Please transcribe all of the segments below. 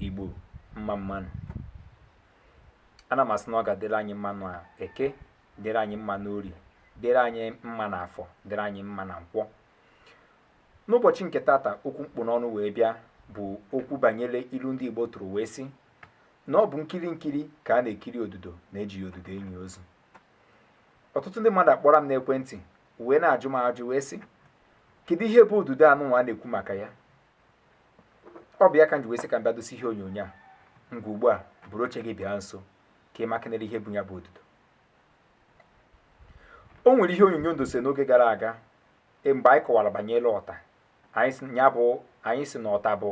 igbo mma mma nụ ana m asị na ọ ga-adịrị anyị mma na eke dịrị anyị mma n'orie dịrị anyị mma na afọ dịrị anyị mma na nkwọ n'ụbọchị nke tata okwu m kpụ n'ọnụ wee bịa bụ okwu banyere ilu ndị igbo tụrụ wee sị na ọ bụ nkiri nkiri ka a na-ekiri odudo na ejighị odudo enyi ozu ọtụtụ ndị mmadụ akpọrọ m n'ekwentị wee na-ajụ m ajụ wee sị kedu ihe bụ odudo anụnwa a na-ekwu maka ya ọ bụ ya ka m ji wee sị ka m bịa dose ihe onyonyo a ngwa ugbu a buru oche gị bịa nso ka ị makenere ihe bụ ya bụ odudo o nwere ihe onyonyo m dose n'oge gara aga e, mgbe anyị kọwara banyere ọta anyị sị na ọta bụ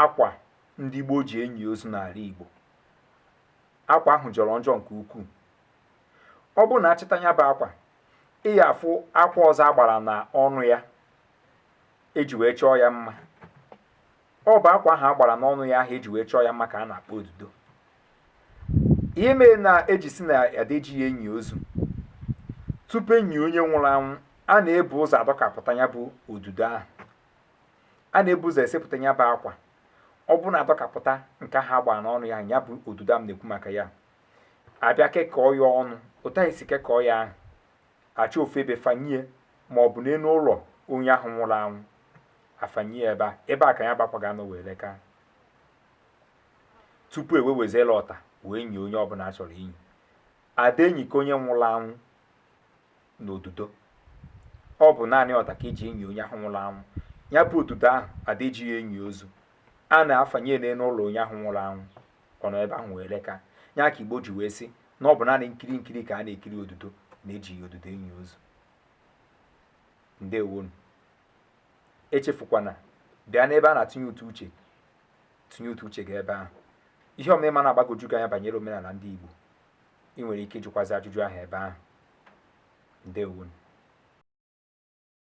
akwa ndị gboo ji enyi ozu n'ala Igbo akwa ahụ jọrọ njọ nke ukwuu ọ bụrụ na a chịta ya bụ akwa ị ya afụ akwa ọzọ a gbara na ọnụ ya eji wee chọọ ya mma ọ bụ akwa ahụ a gbara n'ọnụ ya ahụ eji wee chọọ ya mma ka a na-akpọ odudo ihe mere na eji si na ada eji ya enyi ozu tupu enyi onye nwụrụ anwụ a na-ebu ụzọ adọkapụta ya bụ odudo ahụ a na-ebu ụzọ esepụta ya bụ akwa ọ bụrụ na adọkapụta nke ahụ a gbara n'ọnụ ya ya bụ odudo a m na-ekwu maka ya a bịa kekọọ ya ọnụ otu ahụ e si kekọọ ya ahụ achọọ ofu ebe fanye ya ma ọ bụ n'elu ụlọ onye ahụ nwụrụ anwụ afanye ya ebe a ebe a ka ya bụ akwa ga-anọ wee leka tupu e wee weziri ọta wee nyie onye ọbụla a chọrọ inyi ada enyikọ onye nwụrụ anwụ na odudo ọ bụ naanị ọta ka eji enyi onye ahụ nwụrụ anwụ ya bụ odudo ahụ ada eji ya enyi ozu a na-afanye n'elu ụlọ onye ahụ nwụrụ anwụ ọ nọ ebe ahụ wee leka ya ka igbo ji wee sị na ọ bụ naanị nkiri nkiri ka a na-ekiri odudo na ejighị odudo enyi ozu ndeewo nụ echefukwana bịa n'ebe a na-atụnye ụtụ uche tụnye ụtụ uche gị ebe ahụ ihe ọbụna ị ma na-agbagoju gị anya banyere omenala ndị igbo ị nwere ike ịjụkwazi ajụjụ ahụ ebe ahụ ndeewo nụ